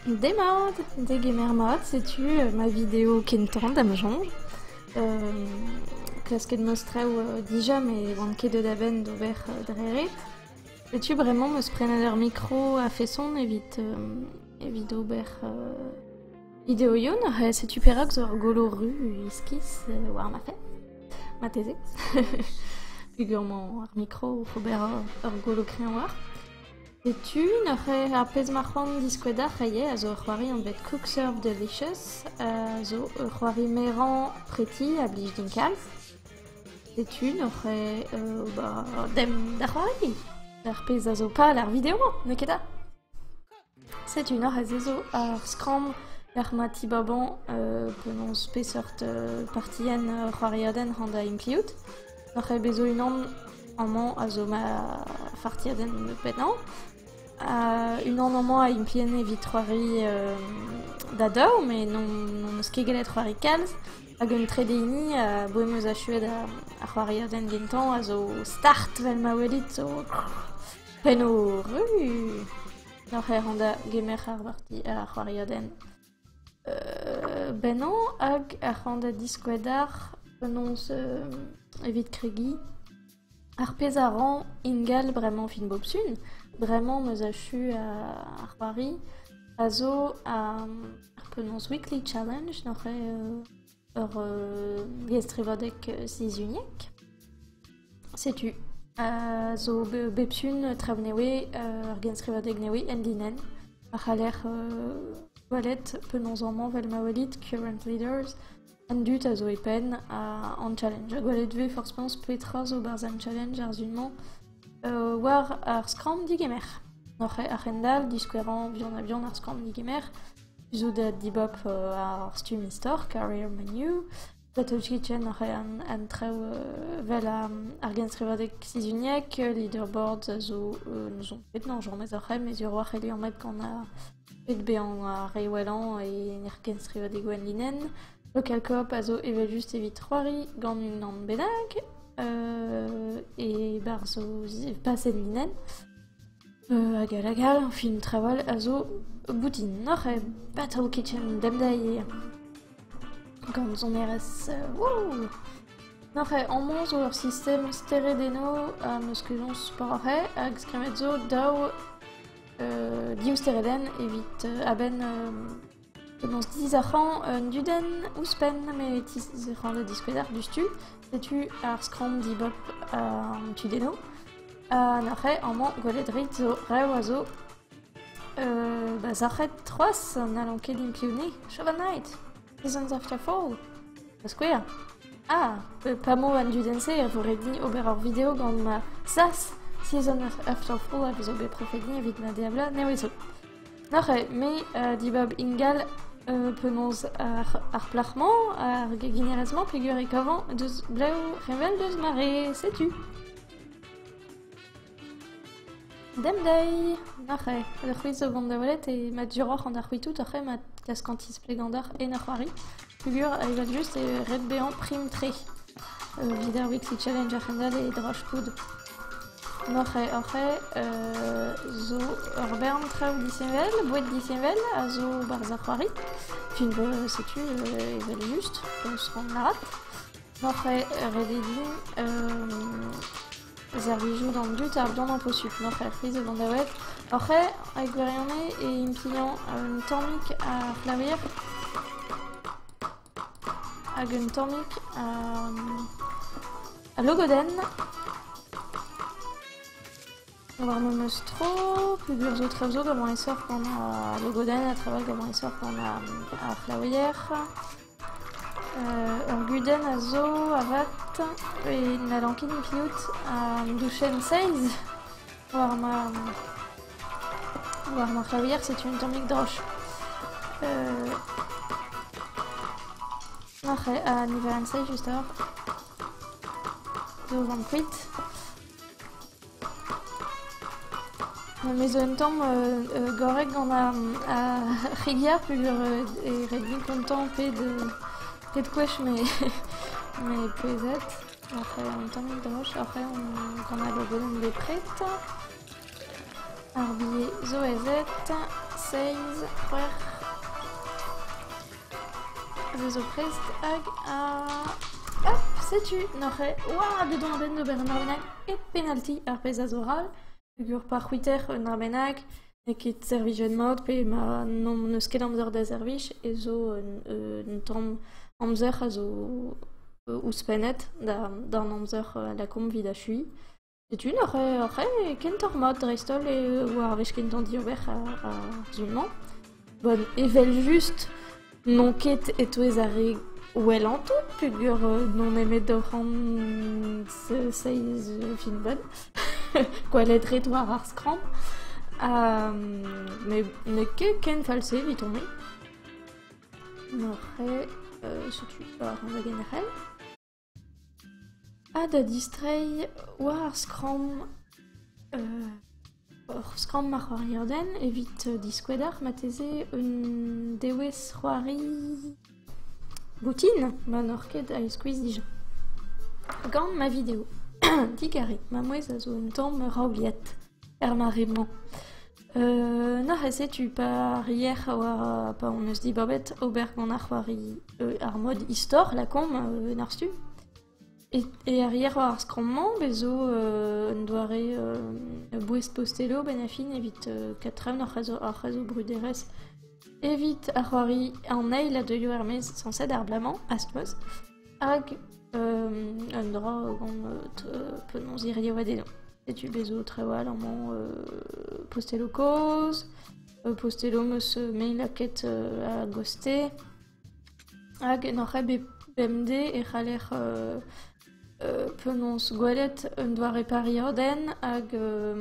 Demat, degemer mat, setu ma video kentañ da'm soñj. klasket ma straoù dija met ne oan ket deut a-benn d'ober dre ret. Setu bremañ 'm eus prenet ar mikro a-feson evit evit ober videoioù. Setu perak zo ur golo ru iskis war ma fenn, marteze. Peogwir 'mañ ar mikro oc'h ober ur golo kreñv war. Setu neuze ar pezh ma c'hoant diskouez deoc'h ivez, a zo ur c'hoari anvet Cook Serve Delicious, a zo ur c'hoari merañ preti a blij din kalz. Setu neuze euh, ba, demp da c'hoari d'ar pezh a zo pal ar video-mañ, n'eo ket da? Setu neuze zo ar skramm lec'h ma tibabañ euh, penaos peseurt euh, partienn ur c'hoariodenn hon da implijout. Oc'h eo bezo unan amañ a zo ma fartiadenn pennañ. unan amañ a implien evit c'hoari da daou met n'hon eus ket gellet c'hoari kalz. Hag un trede hini abaoe em eus achuet ar c'hoariadenn gentañ a zo start vel ma welit zo pennoù ru. N'oc'h eo rann da gemer ar c'hoariadenn. Bennañ hag ar c'han da diskouez deoc'h penaos evit kregiñ. Ar pezh a ran ingal bremañ fin bob sun, bremañ 'm eus achu ar c'hoari, a zo ar penaos weekly challenge, neuze Ur liesstrivadeg sizhuniek. Setu a zo bep sun traoù newe, ur genstrivadeg newe en-linenn a c'haller gwelet penaos amañ, vel ma welit, current leaders, an dud a zo e penn an challenge. Ha gwelet vez forzh penaos petra zo 'barzh an challenge ar sun-mañ war ar skramm digemer. Oc'h a-hend-all, diskouerañ buan-ha-buan ar skramm digemer. zo da dibab ar stumm istor Career Menu, Battle Kitchen a rae an traoù vel ar genstrivadeg sizhuniek, leaderboard a zo n'ouzon ket na jañez ar c'hemm e zivhar a c'helli anvet gant bet bezañ ar re wellañ e genstrivadegoù enlinenn. Local Co-op a zo evel-just evit c'hoari gant unan bennak, e-barzh o pasenn linenn. Hag all hag all, film trawal a zo boutin oc'h bato kichen demdai gant sonerezh wouh! Nac'h eo amañ zo ur sistem stered eno ha meus kejañs poc'h eo hag skrammet zo daou div steredenn evit a-benn Penaos dizarc'hañ un dudenn ouzhpenn m'e tizarc'hañ da diskouezhañ diouzhtu. Setu ar skramm dibab an tudennoù. Ha neuze amañ gwelet rit zo rev a zo ba sac'het c'hoazh n'hallont ket inkliv-ni. Show a night! Seasons after fall! Da skouer. Ah! pa vo an dudenn-se e vo ret din ober ur video gant ma sas. Season after fall a vezo bet prefet din evit ma diabla nevezo. Neuze, me, dibab ingal penaos ar plac'h-mañ, ar geginer-ez-mañ peger e kavan deus blev revel deus ma re, setu. Demdeiz, neuze, c'hwi zo 'vont da welet e ma duroc'h an arc'hwitout oc'h ema klask an tisplegañ deoc'h en ur c'hoari. Pugur evel-just eo ret bezañ prim-tre evit ar Weekly Challenger kendalc'h e draftoù. Norc'he Orc'he zo ur bern traoù disheñvel, boued disheñvel a zo 'barzh ar c'hoari. Fin 'vo setu evel-just, 'skomp lâret. Norc'he, ret eo din Servijout an dud ardant imposubl, entrepriz e vandaoued oc'h e gwirionez e impliañ un tammig ar c'hlaouier hag un tammig al logodenn warno n'eus tro peogwir zo traoù zo gant an esor gant al logodenn ha traoù all gant an esor gant ar c'hlaouier. Ur gudenn a zo avat pe n'hallan ket mirout an douchenn seiz war ma war ma c'hlavier setu un tammig droch. Ha niverenn seiz just a-walc'h. 'Do 'vont kuit. Me zo un tamm gorrek gant ar c'hig-yar peogwir e red din kontañ pet gwech m'eo pouezet. Après un tammig droch, après gant al lodenn bepred. Ar bilhez zo ez eo seiz, c'hwec'h... A vezo prest hag a... Hop, setu neuze oad edo an den d'ober un dra bennak e penalti, ar pezh a zo ral. Peogwir pa c'hwiter un dra bennak, n'eo ket servijet mat pe ma n'eus ket amzer da servij, e zo un un tamm amzer a zo ouzhpennet d'an amzer a lakaomp evit achuiñ. Setu neuze ar re kentoc'h mat dreist-holl eo ar wech kentañ diober ar sur-mañ. Bon, evel-just n'on ket e-touez ar re wellañ tout peogwir n'on nemet oc'h seiz filmbenn, gwelet ret war ar skramm. Ha met n'eo ket ken fall-se eviton-me. Neuze setu war an dagen arall. Ha da distreiñ war ar skramm ur skramm ar c'hoariodenn evit diskouez deoc'h marteze un dewezh c'hoari boutin ma n'oc'h ket a-eskuizh dija. Gant ma video. Digarez, ma mouezh a zo un tamm raobiet er mare-mañ. Nac'h eo setu par yec'h war pa hon eus dibabet ober gant ar c'hoari ar mod istor lakaomp en ar stumm. E ar yec'h war ar skramm-mañ bez zo un doare bouez-posteloù a-benn ar fin evit kadtraen ar c'hazev bruderezh evit ar c'hoari an eil a deuio er-maez sañset ar bloaz-mañ, ast-noz. Hag un dra gant penaos hirio eo dezhañ. Setu bez' zo trawalc'h amañ posteloù kozh, posteloù 'm eus mail lakaet a-goste. Hag n'oc'h ket bet bemdez e c'haller penaos gwelet un doare pariadenn hag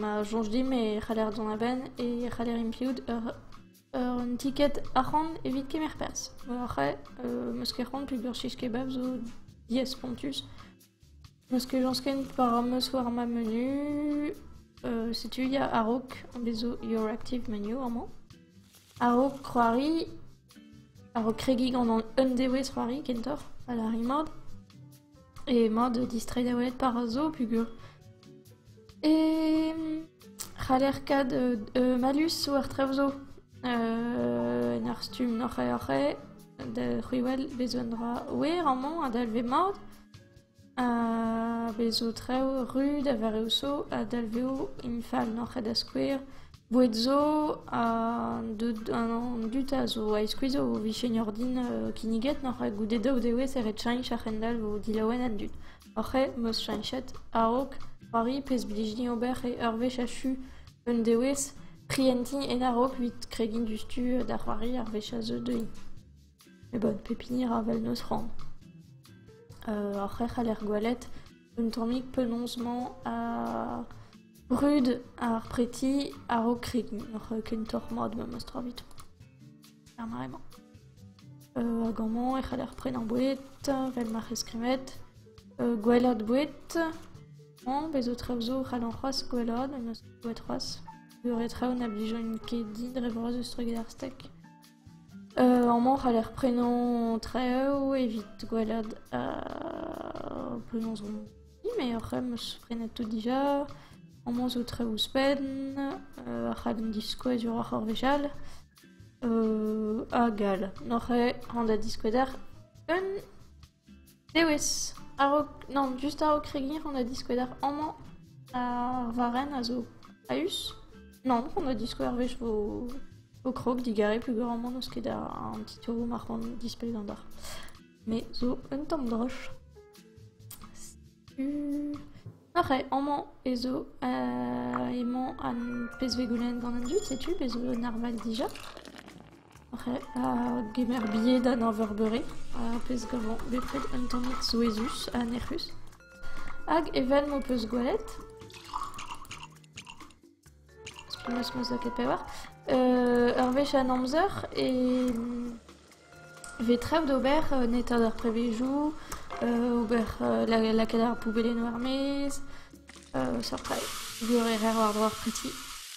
ma soñj dimp e c'haller dont a-benn e c'haller implout ur Un ticket arc'hant evit kemer perzh. Après, euh, ma ket c'hoant peogwir cheese kebab zo diaes spontus. Ma ket lañsken war ar meus war ma menu, euh, setu il y a a-raok an bezo Your Active Menu amañ. A-raok c'hoari, a-raok kregiñ gant an undeouez c'hoari kentoc'h, a la rimard. emañ da distreiñ da welet par a zo pugur. E c'haller kaout malus war drev zo. en ur stumm oc'he-oc'he, da c'hwiwel bez' un dra wer amañ a dalve mat, ha bez' zo traoù ruz da vareoù zo, a dalvezo im fall n'oc'he da skouer. Boued zo an dud an dud a zo a-iskuizh o vijen ordin kinniget noc'h goude daou dewezh e ret cheñch a-hendall vo dilaouen an dud. Oc'h eo 'm eus cheñchet a-raok c'hoari pezh 'blijini ober e ur wech achu un dewezh prientiñ en a-raok evit kregiñ diouzhtu da c'hoari ar wech a zeu dezhi. E bot, pep hini ra vel n'eus c'hoant. Ar c'hrec'h a ler gwelet, un tammig penaos-mañ ha brud ar preti a-raok kregiñ, n'oc'h kentoc'h mat memes tra evit. Ar mare-mañ. Hag amañ e c'haller prenañ boued vel ma c'hell skrivet, gwellad boued. Mañ bez zo traoù zo c'hallan c'hoazh gwellad, memes boued c'hoazh. Beure traoù na blijaint ket din dre vras eus treuget ar stek. Amañ 'c'haller prenañ traoù evit gwelet penaos on. Mais ar c'hemm 'meus prenet tout dija. Amañ zo traoù ouzhpenn, ar chadenn diskoueziouroc'h ar wech all, hag all. Noc'h eo an da diskouez deoc'h un... Dewez, a-raok... nann, just a-raok kregiñ on a diskouez deoc'h amañ ar varrenn a zo a-us. Nann, on a diskouez ur wech vo vo krog digare peogwir amañ n'eus ket an titouroù ma c'hoant dispell gant deoc'h. Me zo un tamm droch. Setu... Oc'h eo, amañ ez eo... emañ an pezh vez goulennet gant an dud, setu pezh zo un arval dija. Kemer bilhed an arverbeuri, ar pezh gavañ bepred un tammig souezhus ha nec'hus. Hag evel m'ho peus gwelet, spulus m'eus lakaet pevar, ur wech an amzer e vez traoù d'ober en etat ar prevezioù, ober lakaat ar poubellennoù er-maez. seurt traoù. Gwir e rer war-dro ar preti.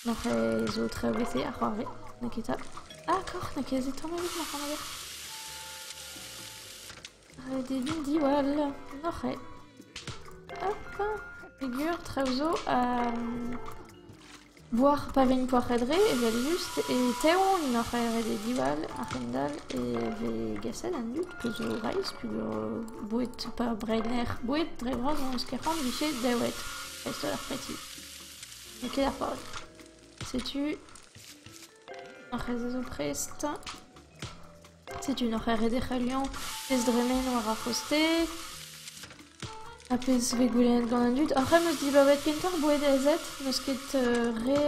Marc'h e zo tre bete a c'hoarve. N'eo ket 'ta. Ah, koc'h, n'eo ket se tamm ebet, ma c'hanager. Ret eo din diwall. Noc'h eo. Hop, pegur, traoù zo. Voir pa vin poac'had-re evel-just e teon en hor c'haerede diwall a-hend-all e vez gaset an dud peus o reizh peus o boued pa brener boued dre vras hon eus ket c'hoant 'vije daouet dreist-holl ar preti. N'eo ket ar pal. Setu. Ar c'hezh a zo prest. Setu un arc'hant ret e c'hellio. Pezh dremen war ar c'hostez. Ha pezh vez goulennet gant an dud. Ar c'hremm 'm eus dibaouet kentoc'h bouedezed. N'eus ket re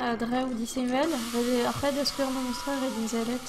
a draoù disheñvel. Ret eo ar c'hred da skouer memestra ret int sellet.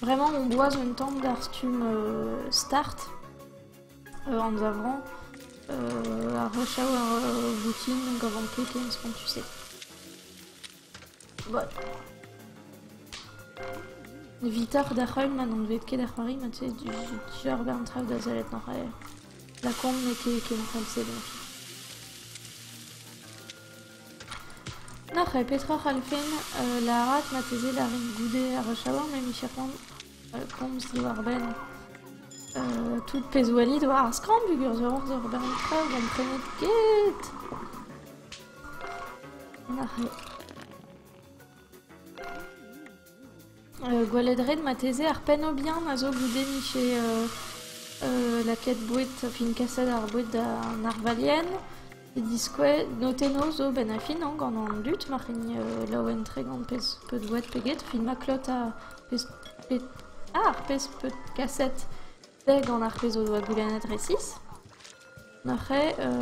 Vraiment, on doise un temps d'ar stumm euh, start, euh, anzavrañ, euh, a rechaou ar euh, voutin donc avant tout ken ce qu'on tu sais. Voilà. Vitoc'h da c'holl ma n'on bet ket da c'hoari, ma tu sais, dior gant traoù da sellet an c'haer. La con n'eo ket ken fall-se donc. N'oc'h ket petra a c'hallfen lâret marteze d'ar re goude ar chaouarn ma micher komz diwar-benn tout pezh 'oa dit war ar skrambluger zo aon deoc'h ober an traoù gomprenet ket. Nac'het. Gwelet 'ret marteze ar pennoù bihan a zo goude mije lakaet boued, fin kaset ar boued d'an arvalien, e diskouez notennoù zo 'benn ar fin gant an dud ma c'hellint laouen-tre gant pezh peud boued pe get, fin ma klot ar pezh, ar pezh peud kaset. Pe gant ar pezh o doa goulennet resis. Neuze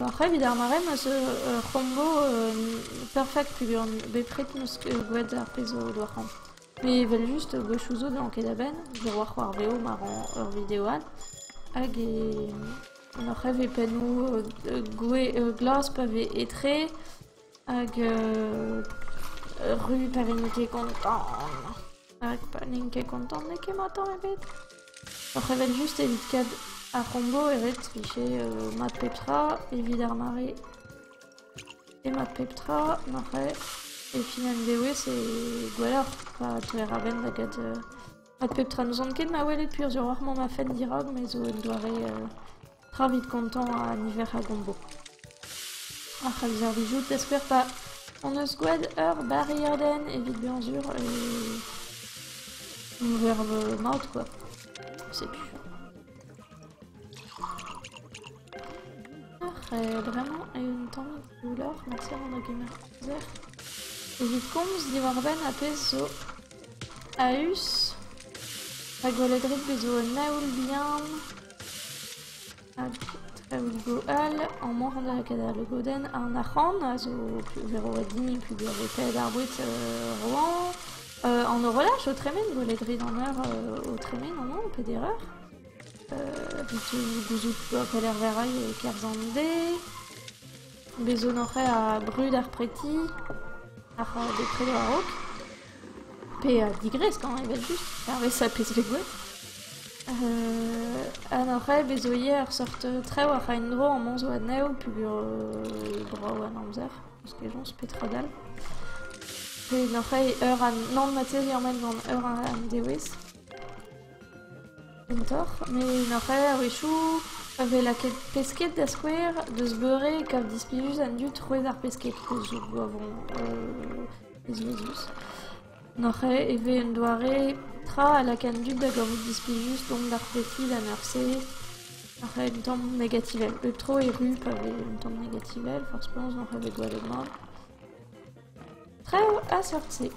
oc'h evit ar mare ma 'z eus ur c'hombo perfekt peogwir bepred 'm eus gwelet ar pezh o doa c'hoant. Met evel-just gwechoù zo n'elan ket a-benn, miroir war veo ma ran ur video all hag e neuze 'vez pennoù glas pa vez etre. Hag ru pa vin ket kontant. Hag pa n'in ket kontant n'eo ket mat tamm ebet. Oc'h evel-just evit kat ar c'hombo e ret vije mat pep tra evit ar mare. E mat pep tra n'oc'h e. E fin an dewezh e gwelloc'h pa teuer a-benn da get Met pep tra n'ouzon ket na welet purzhur oc'h mont a-fenn dirak me zo un doare tra evit kontañ a niver a gombo. Ac'h, a servijout da skouer pa hon eus gwraet ur bariadenn evit bezañ sur e un verb mat quoi. Setu. Ac'h, e bremañ un tamm Doulor hanter an hogemer-amzer evit komz diwar-benn ar pezh zo a-us da Goledred bet zo un aoul bihan hag aoulgo all amañ da gadañ logodenn an arc'hant a zo kleveroet dimp peogwir eo kaet ar boued Roan. An horolaj o tremen Goledred an eur o tremen amañ peder eur. gouzout a pelec'h verrail e-kerzh an deiz. Bez' zo hoc'h a brud ar preti, ar bepred war-raok. Pe digresk hañ evel-just, hervez pezh vez gwelet. ha hoc'h bez' zo ivez ur seurt traoù oc'h en-dro amañ zo anezho peogwir brav an amzer, eus kejañs petra dall. Pe n'oc'h eur ha nann marteze ur mell gant eur an dewezh. Kentoc'h met ar c'hae a-wechoù a vez lakaet pesked da skouer deus beure e kav displijus an dud troet ar pesked keuz zo gwavon ezvezus. En hor c'hae e vez un doare tra a laka an dud da gavout displijus dont d'ar pesked en eur-se ar c'hae un tamm negativel. Bep tro e ru pa vez un tamm negativel forzh penaos hor c'hae bet gwallet mat. Traoù a-seurt-se.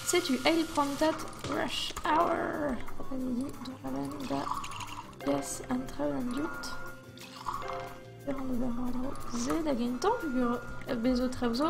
Setu eil prantad Rush Hour. Renidi dont a-benn da gas an traoù d'an dud. Peran ober war-dro se da gentañ peogwir bezo traoù zo.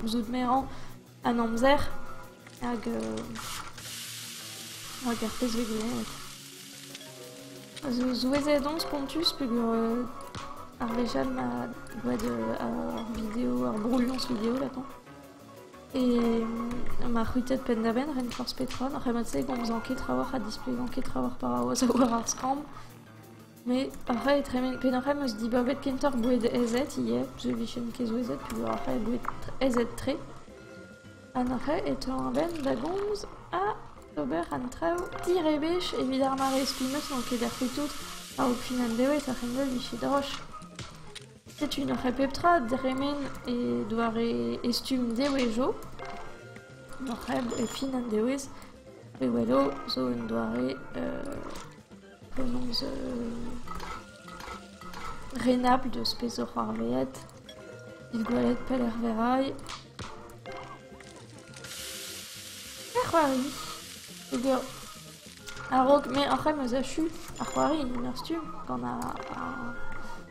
gouzout merañ an amzer hag hag ar pezh vez gwelet. Zo souezhet on spontus peogwir ar wech all ma gwad ar video, ar brouilhañs video latañ. E ma c'hwitet penn-da-benn ren forzh petra, n'ar c'hemmad-se e gomzañ ket trawalc'h ha displegañ ket trawalc'h war ar skramm. Met ar c'hae tremen... Penaos c'hell 'm eus dibabet kentoc'h boued aezet ivez, parce que 'vijen ket zo aezet peogwir ar c'hae eo boued aezet-tre. An c'hae e teu a-benn da gomz ha d'ober an traoù direbech evit ar mare, spi 'm eus n'on ket er c'houtoud a-raok fin an devezh ar c'henvel 'vije droch. Setu un c'hae pep tra dremen e doare e stumm devezho. Ur c'hae e fin an devezh, pe welo, zo un doare... penaos renabl deus peseurt c'hoarveet, evit gwelet pelec'h verray. Ar c'hoari peger a-raok me ac'h em eus achu ar c'hoari en ur stumm gant ar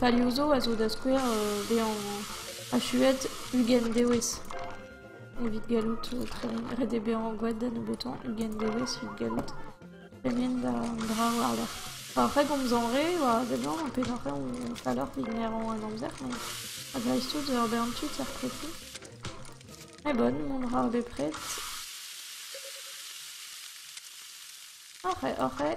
Palioù zo a zo da skouer bezañ achuet ugent dewezh evit gallout ret eo bezañ gwad da nebeutañ ugent dewezh evit gallout tremen d'an dra war-lerc'h. Ar c'hregomzañ re oa a-seblant pelec'h eo falloc'h evit merañ an amzer met dreist-holl ur bern tud er prefed. Met bon, mont a ra bepred. Oc'h eo, oc'h eo.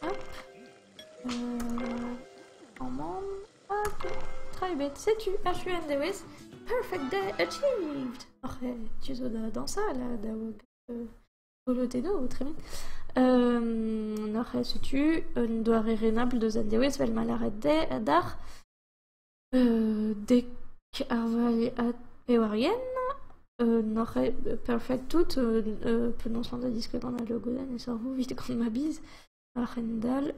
Hop, amann hag tra ebet. Setu achu an dewezh. Perfect day achieved! Oc'h tu zo da dañsal ha da golotennoù tremen. Oc'h setu un doare renabl deus an dewezh 'vel ma lâret dezhe adarc'h. dek ar vale ha pevar yen n'oc'h ket perfect tout penaos mont da diskouez gant al logodenn e sorvo evit gant ma biz a-hend-all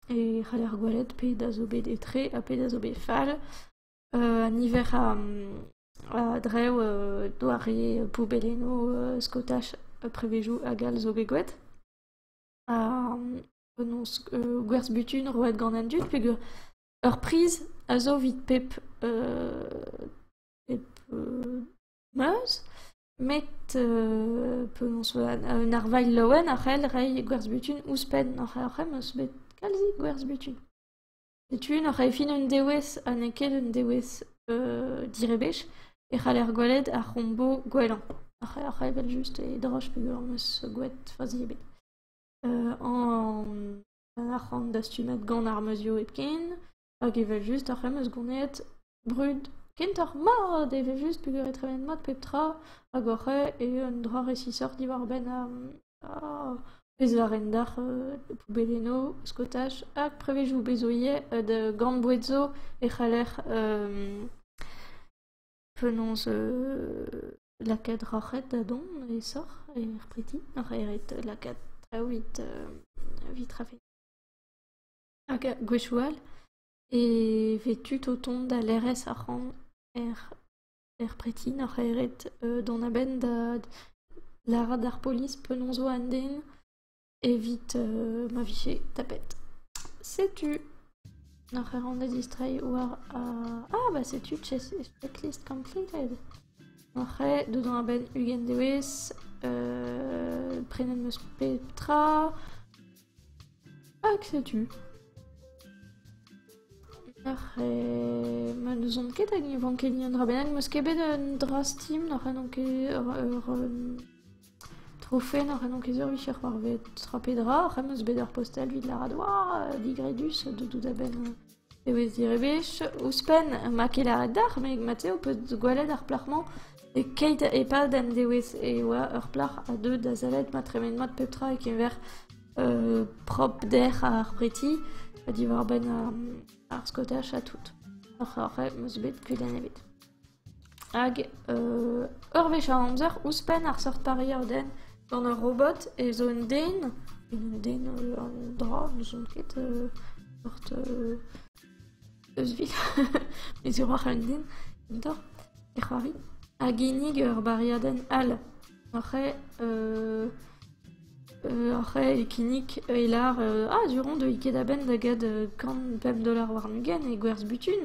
e c'haller gwelet pet a zo bet etre ha pet a zo bet fall. an niver a-dreñv doare poubellennoù skotaj prevezioù hag all zo bet gwelet. Ha penaos gwerzh butun roet gant an dud peogwir Ur priz a zo evit pep pep meuz met penaos un arvailh laouen a c'hell reiñ gwerzh-butun ouzhpenn ar c'hemm bet kalzik gwerzh-butun. Setu nac'h eo fin un dewez ha n'eo ket un dewez direbech e c'haller gwelet ar c'hombo gwellañ ar c'hell evel-just e droch pe ur meuz gouet fazi ebet. an arc'hant dastumet gant ar meuzioù hepken hag evel-just ar c'hemm eus gounid brud kentoc'h mat evel-just pegwir e tremen mat pep tra hag oc'h eo eo un dra resisoc'h diwar-benn pezh-varrenn-dac'h poubellennoù skotaj hag prevezioù bezv ivez da gant boued zo e c'haller penaos lakaat roc'hed da dont aesoc'h er preti, oc'h eret lakaat traoù evit evit rafe. Hag gwechou all e vez tud o tont da lerc'hes arc'hant er er preti oc'h eret dont a-benn da lâret d'ar polis penaos 'vo an den. evit ma vije tapet. Setu oc'h ec'h an da distreiñ war ar... Ah bah setu Chassis Checklist completed. Oc'h ec'h dodañ a-benn ugent dewezh, prenet 'm eus pep tra, hag setu. Oc'h ec'h... Ma n'ouzon ket hag ne van ket ni un dra bennak. N'eus ket bet un dra steam, n'oc'h ec'h n'on ket ur... ur Trofenn oc'h en enkezior vicher c'hoarvet. Tra pe dra, c'hem eus bet ur postel evit lâret oa digredus tout a-benn ewez direbech. Ouzhpenn ma ket lâret deoc'h, met mat-se ho peus gwelet ar plac'h-mañ e-keit e-pad an dewezh e oa ur plac'h a deu da sellet ma tremen mat pep tra e-keñver prop dec'h ar preti ha diwar-benn ar skotach ha tout. Oc'h c'hem eus bet kudenn ebet. Hag ur wech a amzer ouzhpenn ar seurt pariadenn gant ur robot ez eo un den un den un dra n'ouzon ket seurt eus evit e ziwrac'h un den kentoc'h e c'hoari a ginnig ur bariadenn all oc'h e kinnig e lar ah du-hont deuit ket a-benn da get kant pemp dolar warn-ugent e gwerzh butun.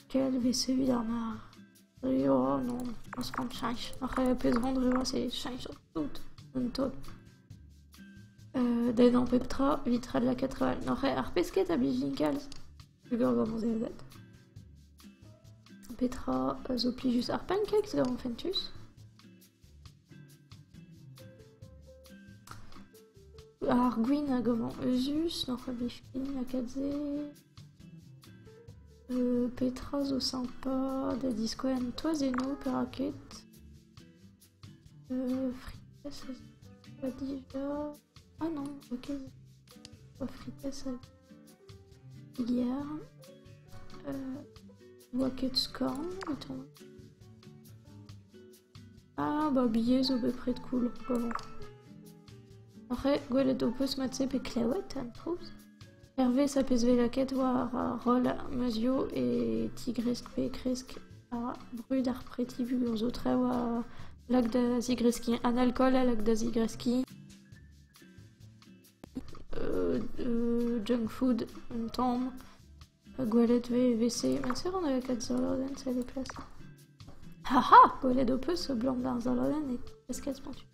Ket evit evit ar marc'h. Rio non, az kan cheñch. Ar c'hreapez vont dre vras eo cheñch tout, un taol. Euh, Degañ pep tra evit ret lakaat travel. N'oc'h ar pesked a blijin kalz. Lugar gant an zezad. Petra a zo plijus? Ar pancakes gant fentus? Ar gwin a gavan euzhus, n'oc'h ket bet fin lakaat-se. Petra zo sympa da diskouez an toazennoù, perak ket? Frites a zo dija. Ah non, ok. Frites a Yer oa ket skorn evitañ. Ah ba bier zo bepred cool paour. Oc'h eo gwelet ho peus mat-se pe klevet an trouz. Hervez a peus bet lakaet war roll meuzioù e tigresk pe kresk ha brud ar preti-vur zo tra oa lak da zigreskiñ. An alkool a lak da zigreskiñ. junk food un tamm. Gwelet 'vez e-vese. Met sur on avait quatre saladen c'est les classes. Haha! Gwelet ho peus a-blam d'ar saladen e klaskas pentu.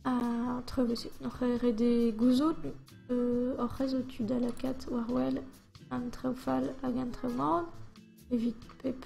Ha tre bosed. N'oc'h ret e gouzout hoc'h eus ho tud a lakaat war-wel an traoù fall hag an traoù mat evit pep...